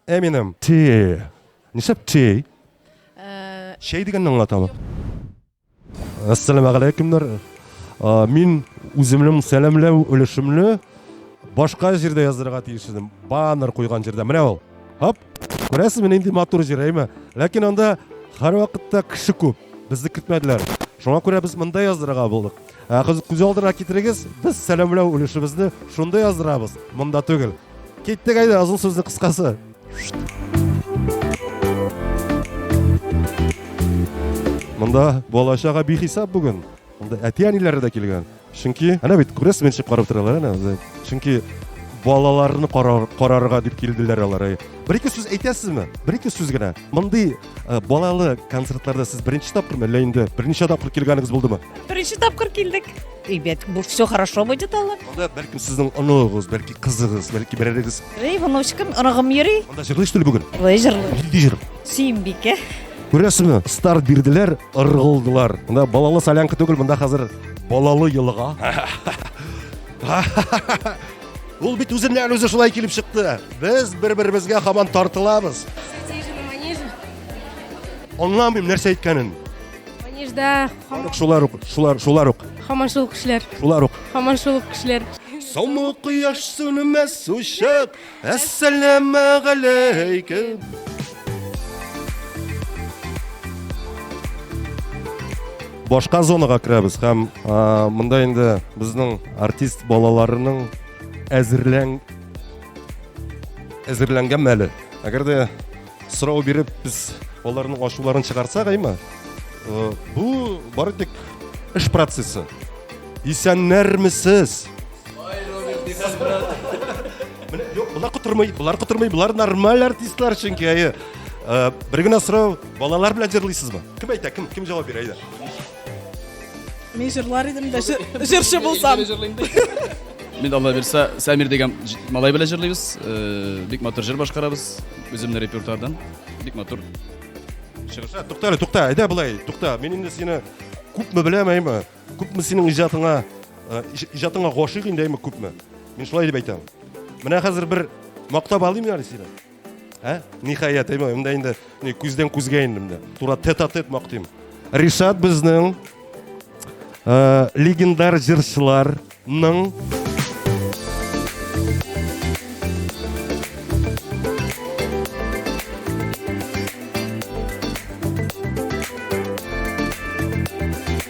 Eminem. Ти. Нишләп ти? Шәй дигәнне аңлатамы? Ассаламу алейкумнар. Мин үземнең сәламләү өлешемне башка җирдә яздырырга тиеш идем. Баннер куйган җирдә. Менә ул. Хоп. Күрәсезме, нинди матур җыр, әйме? Ләкин анда һәрвакытта кеше күп. Безне кертмәделәр. Шуңа күрә без монда яздырырга булдык. Ә кыз күз алдына китерегез, без сәламләү өлешебезне шунда яздырабыз, монда түгел. Киттек әйдә, озын сүзне кыскасы. Монда балачага бихисап бүген. Монда әти-әниләре дә килгән. Чөнки, әнә бит, күрәсез, мин чыгарып торалар, әнә. Чөнки балаларны карарга дип килделәр алар. Бер ике сүз әйтәсезме? Бер ике сүз генә. Мондый э, балалы концертларда сез беренче тапкырмы, әллә инде берничә тапкыр килгәнегез булдымы? Беренче тапкыр килдек. Ребят, бу все хорошо будет алар. Анда бәлкем сезнең оныгыз, бәлки кызыгыз, бәлки берәрегез. Эй, внучкам, оныгым йөри. Анда җырлыйсыз түли бүген? Ой, җырлый. Нинди җыр? Сөембикә. Күрәсеңме, старт бирделәр, ыргылдылар. Монда балалы солянка түгел, монда хәзер балалы елга. Ул бит үзеннән үзе шулай килеп чыкты. Без бер-беребезгә хаман тартылабыз. Аңламыйм нәрсә әйткәнен. Манежда шулар ук, шулар, шулар ук. Хаман шул кешеләр. Шулар ук. Хаман шул кешеләр. Соңгы кояш сүнмәс очып, Әссәләмә галәйкем! башка зонага керәбез һәм ә, монда инде безнең артист балаларының әзерлән әзерләнгән мәле әгәр дә Сорау биреп без аларның ачуларын чыгарсак, әйме? Э, бу бары тик эш процессы. Исәннәрмесез? Менә юк, булар котырмый, булар котырмый, булар нормаль артистлар чөнки әйе. Э, бер генә сорау, балалар белән җырлыйсызмы? Кем әйтә, кем, кем җавап бирә, әйдә. Мин җырлар идем дә җырчы булсам. Мин Алла бирсә, Сәмир дигән малай белән җырлыйбыз. Э, бик матур җыр башкарабыз. Үземнең репертуардан. Бик матур. Чыгыш. Тукта, тукта, әйдә болай, тукта. Мин инде сине күпме беләмәйме? Күпме синең иҗатыңа, э, иҗатыңа гашыйк инде әйме күпме? Мин шулай дип әйтәм. Менә хәзер бер мактап алыйм әле сине. Ә? Ниһаять, әйме, монда инде не күздән күзгә инде монда. Тура тет-а-тет мактыйм. Ришат безнең э, легендар җырчыларның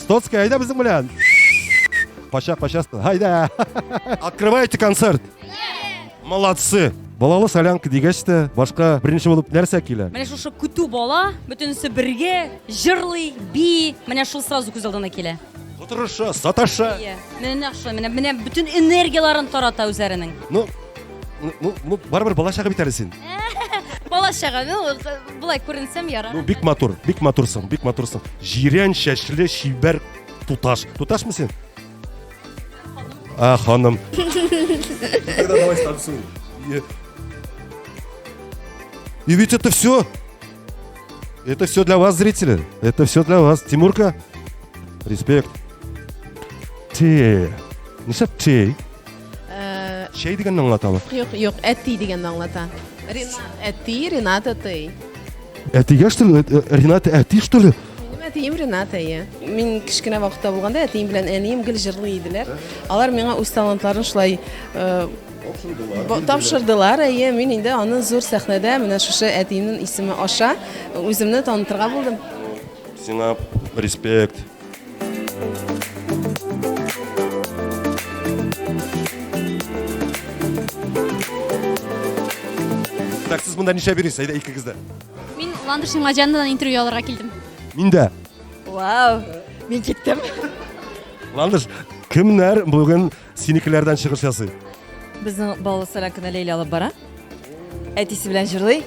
Стоцкая, айда безнең белән. Кача, кача, айда. Открывайте концерт. Молодцы. Балалы солянка дигәч тә башка беренче булып нәрсә килә? Менә шушы көтү бала, бөтенесе бергә, җырлый, би, менә шул сразу күз алдына килә. Котырыша, саташа. Иә. Менә шул, менә менә бөтен энергияларын тарата үзләренең. Ну, ну, ну, барыбер бала чагы бит әле син. Бала чага, ну, Болай күренсәм ярар. Ну, бик матур, бик матурсың, бик матурсың. Җирән чәчле чибәр туташ. Туташмы син? А, ханым. Тогда давай станцуй. И ведь это все. Это все для вас, зрители. Это все для вас. Тимурка, респект. Те. Не шапчей. Э, Чәй дигәнне аңлатамы? Юк, юк, әти дигәнне аңлата. Ринат әти, Ринат әти. Әтигә что ли? Э, э, Ринат әти что ли? Минем әтием Ринат әйе. Мин кечкенә вакытта булганда әтием белән әнием гел җырлый иделәр. Алар миңа үз талантларын шулай тапшырдылар әйе мин инде аны зур сәхнәдә менә шушы әтиемнең исеме аша үземне танытырга булдым сиңа респект Так, сез монда нишләп йөрисез? Әйдә икегез дә. Мин Ландыш Имаҗаннадан интервью алырга килдем. Мин дә. Вау! Мин киттем. Ландыш, кемнәр бүген синекеләрдән чыгыш ясый? Безнең балалы сәләм кенә Ләйлә алып бара. Әтисе белән җырлый.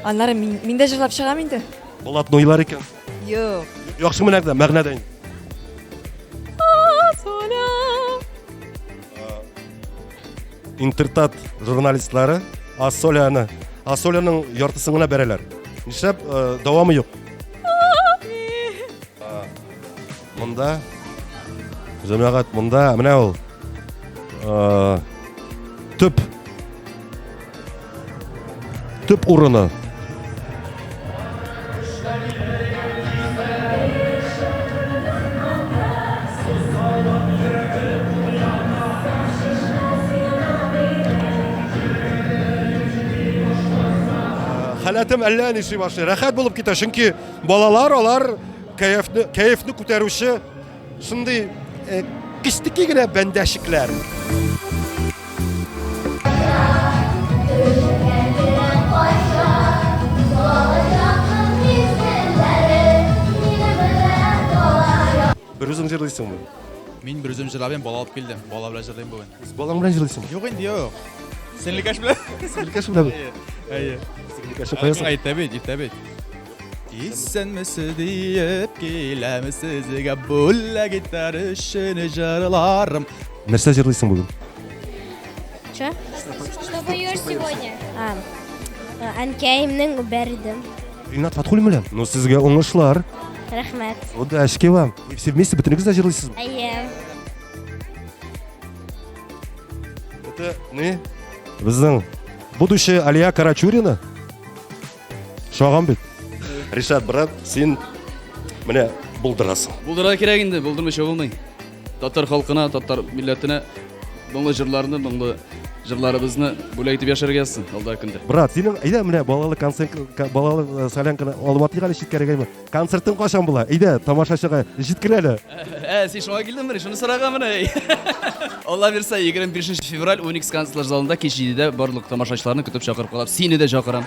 Аннары мин, мин дә җырлап чыгам инде. Болат нойлар икән. Юк. Яхшы мәгънәдә, мәгънәдә. Интертат журналистлары Асоляны, Асоляның яртысын гына бәрәләр. Нишләп э, дәвамы юк? Монда җәмәгать монда менә ул э, төп төп урыны. Хәләтем әллә ничек башлый. Рәхәт булып китә, чөнки балалар алар Кәефне, кәефне күтәрүче шундый э, кечтеки генә бәндәшекләр. Берүзең җырлыйсыңмы? Мин берүзем җырлабыйм, бала алып килдем. Бала белән җырлыйм бүген. Үз балаң белән җырлыйсыңмы? Юк инде, юк. Сеңлекәш белән. Сеңлекәш белән. Әйе. Сеңлекәш каясың? Иртә бит, иртә бит. Исәнмесез диеп киләм сезгә бүләк итәр өчен җырларым. Нәрсә җырлыйсың бүген? Че? Что поешь сегодня? А, э, Әнкәемнең бәрдем. Ринат Фатхуллин белән. Ну сезгә уңышлар. Рәхмәт. Удачки вам. И все вместе бөтенегез дә җырлыйсызмы? Әйе. Это не. Безнең будущая Алия Карачурина. Шагам бит. Ришат брат, син менә булдырасың. Булдыра кирәк инде, булдырмыйча булмый. Татар халкына, татар милләтенә моңлы җырларны, моңлы җырларыбызны бүләк итеп яшәргә язсын алда көндә. Брат, синең әйдә менә балалы концерт, балалы э, солянканы Алматыга әле читкәрәгәме? Концертың кашан була? Иде, тамашачыга җиткер әле. Ә, син шуңа килдең менә, шуны сорага менә. Алла бирсә, 25 февраль Уникс концертлар залында кич 7-дә барлык тамашачыларны көтеп чакырып калам. Сине дә чакырам.